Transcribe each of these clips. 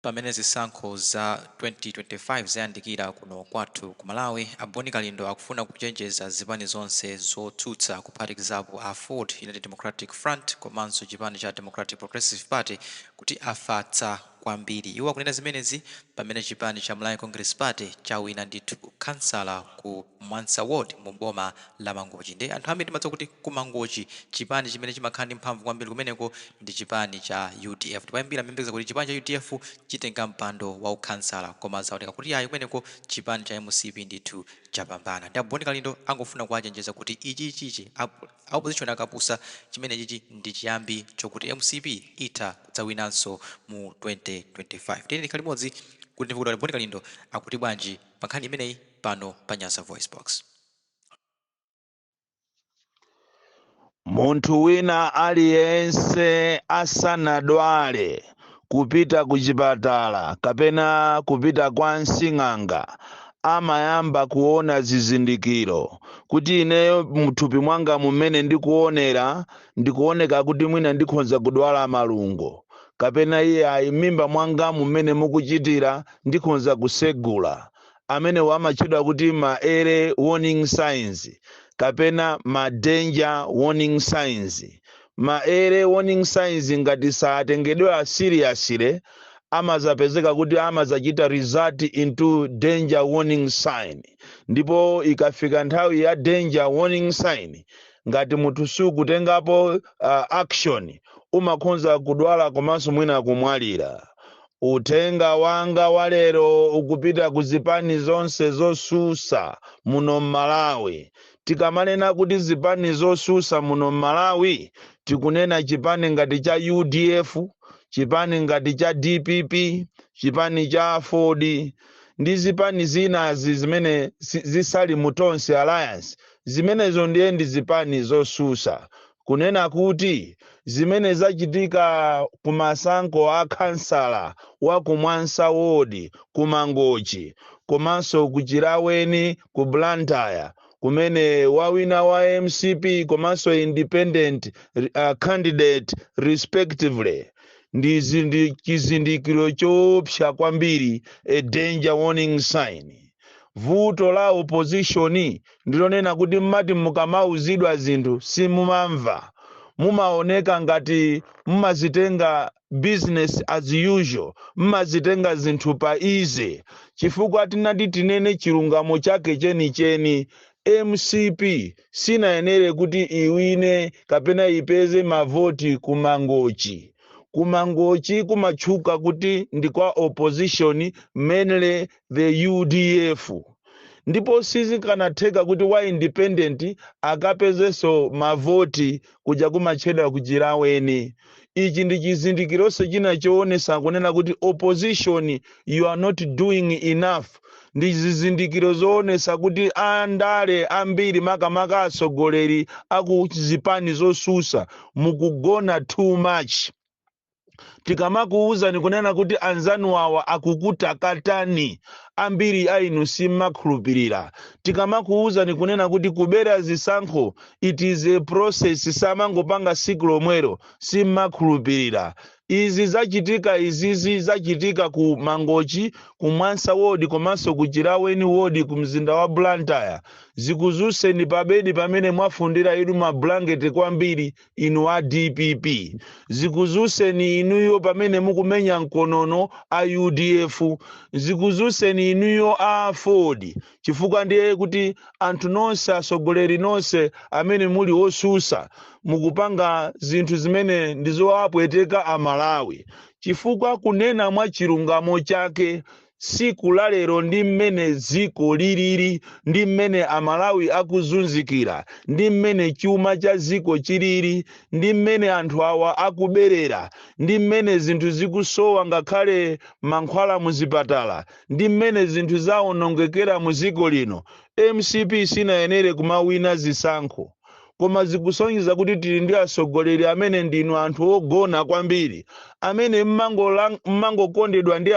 Pamene zisankho za 2025 zayandikira kuno kwathu ku Malawi, a Boni Kalindo akufuna kuchenjeza zipani zonse zotsutsa kuphatikizapo aford, United Democratic Front komanso chipani cha Democratic Progressive Party kuti afatsa kwambiri. Iwo akunena zimenezi pamene chipani cha Malawi Congress Party chawina ndithu ukhansala ku. Mwansa ward mu boma la Mangochi nde anthu ambiri timadziwa kuti ku Mangochi chipani chimene chimakhala ndi mphamvu kwambiri kumeneko ndi chipani cha udf ndipo ambiri amayembekeza kuti chipani cha udf chitenga mpando wa ukhansala koma zaoneka kuti ayi kumeneko chipani cha mcp ndithu chapambana nde a Bon Kalindo angofuna kuwachenjeza kuti ichichi a a opposition akapusa chimenechichi ndi chiyambi chokuti mcp itha kudzawinanso mu 2025 tiyeni tikhale limodzi kuti timve kuti a Bon Kalindo akuti bwanji pa nkhani imeneyi. pano pa Nyasa VoiceBox. Munthu wina aliyense asanadwale kupita ku chipatala kapena kupita kwa nsing'anga amayamba kuona zizindikiro kuti ineyo mthupi mwangamu mmene ndikuonera ndikuoneka kuti mwina ndikhonza kudwala malungo kapena iye ayi m'mimba mwangamu mmene mukuchitira ndikhonza kusegula Amenewa amatchedwa kuti ma early warning signs kapena ma danger warning signs. Ma early warning signs ngati satengedwera seriously amadzapezeka kuti amadzachita result into danger warning sign ndipo ikafika nthawi ya danger warning sign ngati munthu sukutengapo uh, action umakhonza kudwala komanso mwina kumwalira. Uthenga wanga wa lero ukupita ku zipani zonse zosusa muno m'Malawi. Tikamanena kuti zipani zosusa muno m'Malawi tikunena chipani ngati cha udf, chipani ngati cha dpp, chipani cha aford ndi zipani zinazi zimene si, zisali mu Tonse Alliance. Zimenezo ndiye ndi zipani zosusa. kunena kuti zimene zachitika ku masankho a khansala wa ku Mwansa Ward, ku Mangochi komanso ku Chilaweni ku Blantyre kumene wawina wa mcp komanso independent uh, candidate respectively ndi zindi- chizindikiro choopsa kwambiri a danger warning sign vuto la opposition ndilonena kuti mmati mukamauzidwa zinthu simumamva mumaoneka ngati mumazitenga business as usual mmazitenga zinthu pa easy chifukwa tinati tinene chilungamo chake chenicheni mcp sinayenere kuti iwine kapena ipeze mavoti ku mangochi kumangochi kumatchuka kuti ndi kwa opposition mainly the udf ndipo sizikanatheka kuti wa independent akapezenso mavoti kuja kumatchedwa ku chilaweni ichi ndi chizindikironso china choonesa kunena kuti opposition you are not doing enough ndi zizindikiro zoonesa kuti andale ambiri makamaka atsogoleri aku zipani zosusa mukugona too much tikamakuwuzani kunena kuti anzanu awa akukutakatani ambiri a inu simmakhulupirira tikamakuwuzani kunena kuti kubera zisankho it is a process samangopanga siku lomwero simmakhulupirira izi zachitika izizi zachitika ku mangochi ku mwansa ward komanso ku chilaweni ward ku mzinda wa blantyre zikuzuseni pabedi pamene mwafundira inu ma blanket kwambiri inu a dpp zikuzuseni inuyo pamene mukumenya mkonono a udf zikuzuseni inuyo aford chifukwa ndiye kuti anthu nonse atsogoleri nonse amene muli osusa mukupanga zinthu zimene ndizowapweteka amalawi chifukwa kunena mwa chilungamo chake tsiku la lero ndi mmene dziko lilili ndi mmene amalawi akuzunzikira ndi mmene chuma cha dziko chilili ndi mmene anthu awa akuberera ndi mmene zinthu zikusowa ngakhale mankhwala muzipatala ndi mmene zinthu zawonongekera mu dziko lino mcp sinayenere kumawina zisankho koma zikusonyeza kuti tili ndi atsogoleri amene ndinu anthu ogona kwambiri amene mmangokondedwa ndi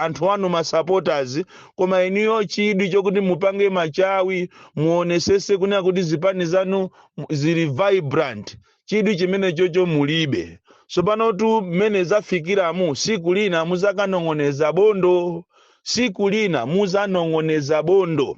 anthu anu masupporters koma inuyo chidwi chokuti mupange machawi muonesese kunena kuti zipani zanu zili vibrant chidwi chimenechocho mulibe tsopanotu mmene zafikiramu siku lina muzakanong'oneza bondo siku lina muzanong'oneza bondo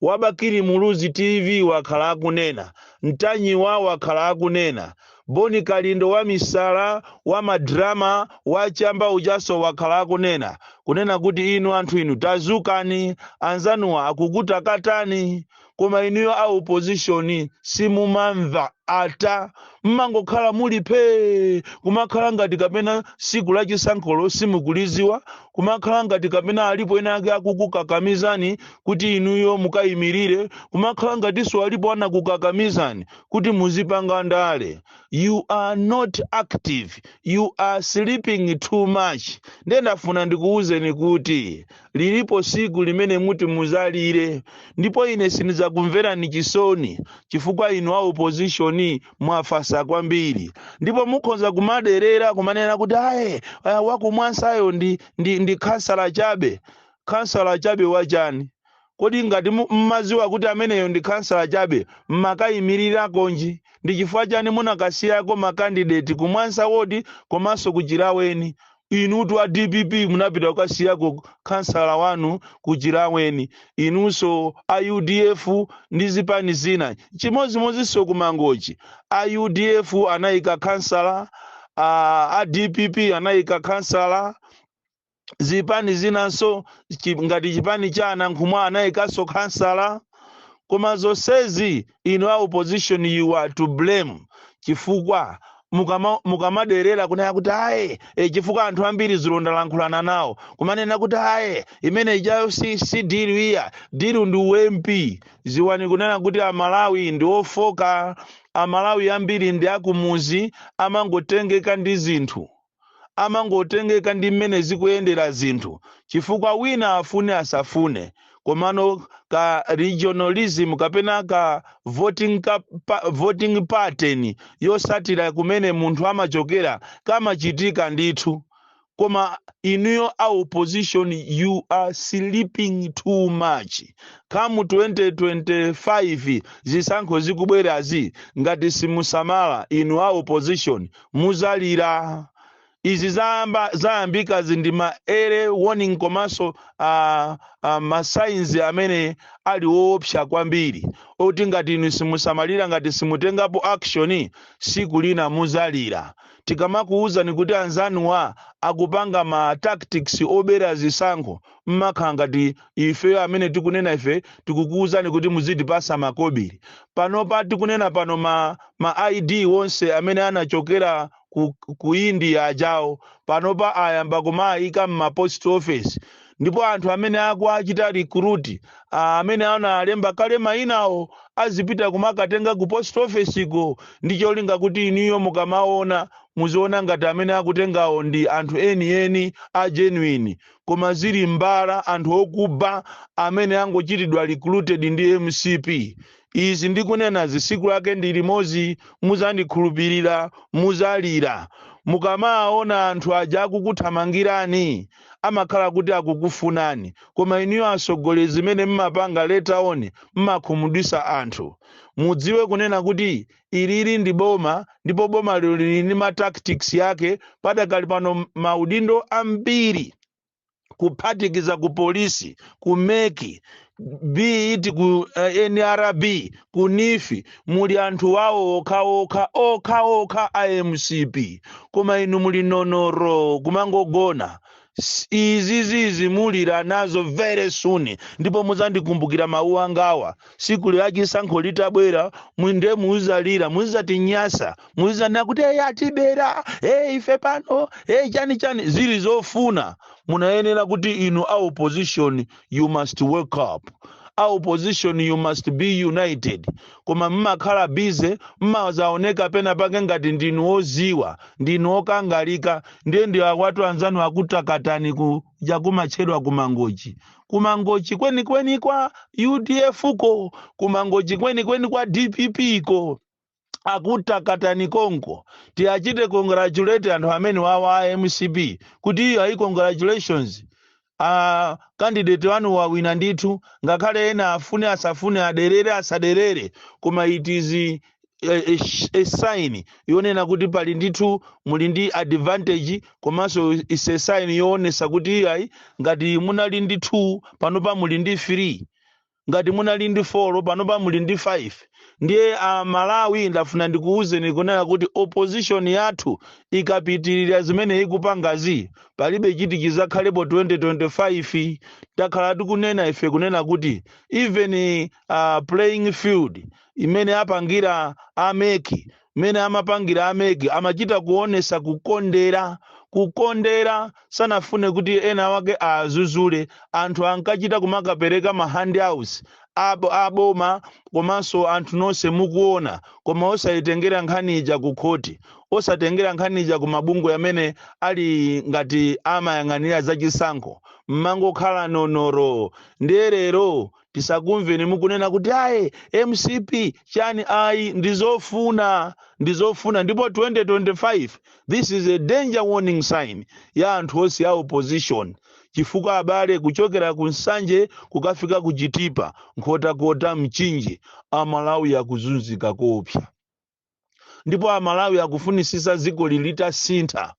wa bakili muluzi tv wakhala akunena, ntanyiwa wakhala akunena, boni kalindo wa misala, wa ma drama, wa chamba ujaso wakhala akunena, kunena kuti inu anthu inu tazukani, anzanuwa akukutakatani. koma inuyo a opposition simumamva. ata mmangokhala muli phee kumakhala ngati kapena siku la chisankholo simukuliziwa kumakhala ngati kapena alipo ena ake akukukakamizani kuti inuyo mukayimilire kumakhala ngatinso alipo anakukakamizani kuti muzipanga ndale you are not active you are sleeping too much ndiye ndafuna ndikuwuzeni kuti Lilipo tsiku limene muti mudzalire, ndipo ine sindidzakumverani chisoni chifukwa inu a opposition mwafatsa kwambiri. Ndipo mukhoza kumaderera kumanena kuti aye ah, wakumwansayo ndi, ndi, ndi khansala chabe. Khansala chabe wachani? Kodi ngati mu- mmadziwa kuti ameneyo ndi khansala chabe mmakayimirira konji? Ndi chifukwa chani munakasiyako makandideti kumwansa wodi komanso kuchilaweni? inutu a dpp munapita kukasiyako khansala wanu kuchilaweni inunso a udf ndi zipani zina chimodzimodzinso kumangochi a udf anayika khansala a, a dpp anayika khansala zipani zinanso chi- ngati chipani cha anankhumwa anayikanso khansala koma zonsezi inu a opposition you are to blame chifukwa mukama- mukamaderera kunena kuti aye e, chifukwa anthu ambiri ndalankhulana nawo kumanena kuti aye imene ijayo si, si dilu iya dilu ndi u MP ziwani kunena kuti amalawi ndi ofoka amalawi ambiri ndi akumuzi amangotengeka ndi zinthu amangotengeka ndi mmene zikuyendera zinthu chifukwa wina afune asafune komano ka regionalism kapena ka voting, ka, pa, voting pattern yosatira kumene munthu amachokera kamachitika ndithu koma inuyo a opposition you are sleeping too much come 2025 zisankho zikubwerazi ngati simusamala inu a opposition muzalira izi za- zayambikazi ndi ma early warning komanso ah, ah, masainzi amene ali woopsa kwambiri oti ngati inu simusamalira ngati simutengapo action siku lina muzalira tikamakuwuzani kuti anzanuwa akupanga ma tactics obera zisankho mmakhala ngati ifeyo amene tikunena ife tikukuuzani kuti muzitipasa makobili panopa tikunena pano ma, ma id wonse amene anachokera ku, ku india ajawo panopa ayamba kumaayika mma post office ndipo anthu amene akuachita recruit ah, amene analemba kale mayinawo azipita kumakatenga ku post office ko ndi cholinga kuti inuyo mukamaona muziona ngati amene akutengawo ndi anthu enieni a genuine koma zili mbala anthu okuba amene angochitidwa recruited ndi mcp izi ndikunenazi siku lake ndi limozi muzandikhulupirira muzalira mukamawaona anthu aja akukuthamangirani amakhala kuti akukufunani koma inuyo asogoleri zimene mmapanga later on mmakhumudwisa anthu mudziwe kunena kuti Ilili ndi boma ndipo boma lero lili ndi ma tactics yake padakali pano m- maudindo ambiri kuphatikiza ku polisi ku mec be it ku eh, nrb ku nifi muli anthu wawo okhaokha okhaokha a mcp koma inu muli nonoro kumangogona S- izizizi mulira nazo very soon ndipo muzandikumbukira mawu angawa siku la chisankho litabwera muwine muzalira muzatinyasa muzanena kuti eyi atibera eyi ife pano eyi chani chani zili zofuna munayenera kuti inu a opposition you must wake up a opposition you must be united koma mmakhala busy mmazaoneka pena pake ngati ndinu oziwa ndinu okangalika ndiye ndi awatu anzanu akutakatani kuja kumatchedwa kumangochi kumangochi kwenikweni kwa udf ko kumangochi kwenikweni kwa dpp ko akutakatani konko tiwachite congratulate anthu amenewawa a mcp kuti iyo ayi congratulations uh, kandideti wanu wawina ndithu ngakhale ena afune asafune aderere asaderere koma it is a, a, a sign yonena kuti pali ndithu muli ndi advantage komanso is a sign yoonesa kuti iyayi ngati munali ndi 2 panopa muli ndi 3 ngati munali ndi 4 panopa muli ndi 5 ndiye amalawi ndafuna ndikuwuzeni kunena kuti opposition yathu ikapitirira zimene ikupangazi palibe chiti chizakhalepo mu 2025 takhala tikunena ife kunena kuti even uh, playing field imene apangira a mec mmene amapangira a mec amachita kuonesa kukondera kukondera sanafune kuti ena wake awazuzule anthu ankachita kumakapereka ma handouts abo aboma komanso anthu nonse mukuona koma osayitengera nkhani ija ku khoti osatengera nkhani ija ku mabungwe amene ali ngati amayang'anira zachisankho mmangokhala nonoro ndiye lero tisakumveni mukunena kuti ayi mcp chani ayi ndizofuna ndizofuna ndipo 2025 this is a danger warning sign ya anthu onse a opposition chifukwa abale kuchokera ku nsanje kukafika ku chitipa nkhotakota mchinji amalawi akuzunzika koopsa ndipo amalawi akufunisisa dziko litasintha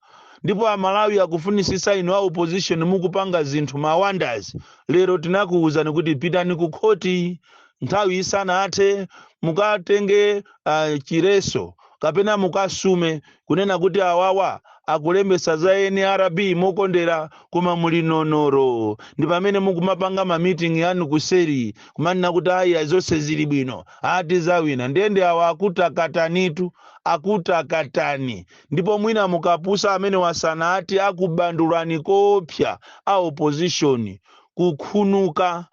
ndipo amalawi akufunisisa inu a opposition mukupanga zinthu ma wonders lero tinakuwuzani kuti pitani ku khoti nthawi isanathe mukatenge uh, chiletso kapena mukasume kunena kuti awawa akulembesa za nrb mokondera koma muli nonoro ndi pamene mukumapanga mamiting anu kuseri kumanena kuti ayi zonse zili bwino ati tizawina ndiye ndi awa akutakatanitu akutakatani ndipo mwina mukapusa amene wasana ati akubandulani koopsa a opposition kukhunuka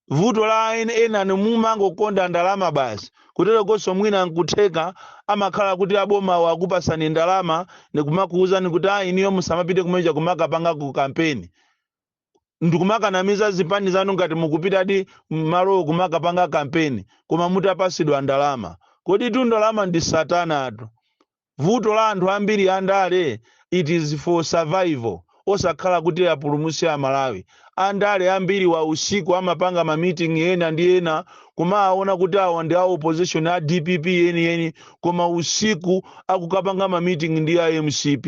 vuto la en- enani mumangokonda ndalama basi kutero konso mwina nkutheka amakhala kuti abomawo akupasani ndalama ndikumakuwuzani kuti ayi iniyo musamapite kumene kuja kumakapanga ku kampeni ndikumakanamiza zipani zanu ngati mukupitadi m'malowo kumakapanga kampeni koma mutapasidwa ndalama koditu ndalama ndi satanatu vuto la anthu ambiri andale it is for survival osakhala kuti apulumuse amalawi andale ambiriwa usiku amapanga mamiting ena ndi ena kumaona kuti awa ndi a opposition a dpp yeniyeni koma usiku akukapanga mamiting ndi a mcp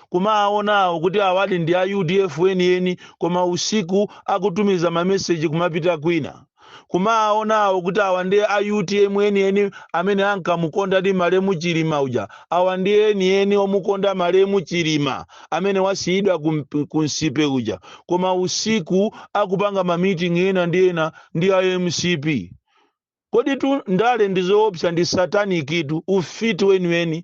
kumaona kuti awadi ndi a udf enieni koma usiku akutumiza mameseji kumapita kwina kumaona kuti awa ndi a utm enieni amene ankamukondadi malemu chilima uja awa ndi enieni omukonda malemu chilima amene wasiyidwa kump- ku mcp uja koma usiku akupanga mamiting ena ndi ena ndi a mcp Koditu ndale ndi zoopsa ndi satanic tu ufiti weniweni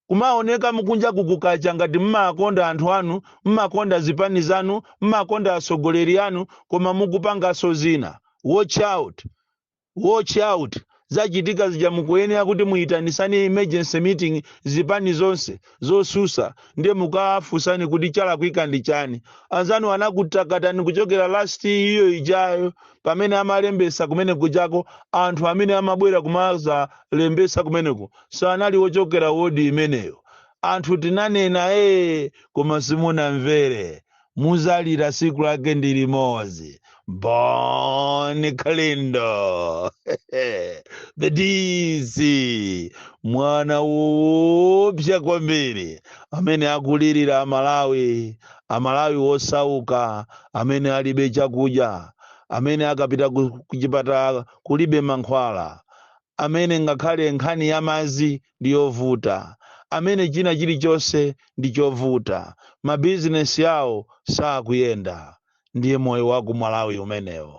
kumaoneka mkunjaku kukacha ngati mmawakonda anthu anu mmakonda zipani zanu mmakonda atsogoleri anu koma mukupangaso zina watch out watch out zachitika zija mukuyenera kuti muitanisane emergency meeting zipani zonse zosusa ndiye mukafusane kuti chalakwika ndi chani anzanu anakutakatani kuchokera last year ijayo pamene amalembesa kumene kujako anthu amene amabwera kumazalembesa kumeneko sanali wochokera wodi imeneyo anthu tinanena ee koma simunamvere muzalira siku lake ndi limodzi bon kalindo the dc mwana woopsa kwambiri amene akulirira amalawi amalawi wosauka amene alibe chakudya amene akapita ku- kuchipatala kulibe mankhwala amene ngakhale nkhani ya madzi ndi yovuta amene china chilichonse ndi chovuta ma business awo sakuyenda ndiye moyo waku Malawi umenewo.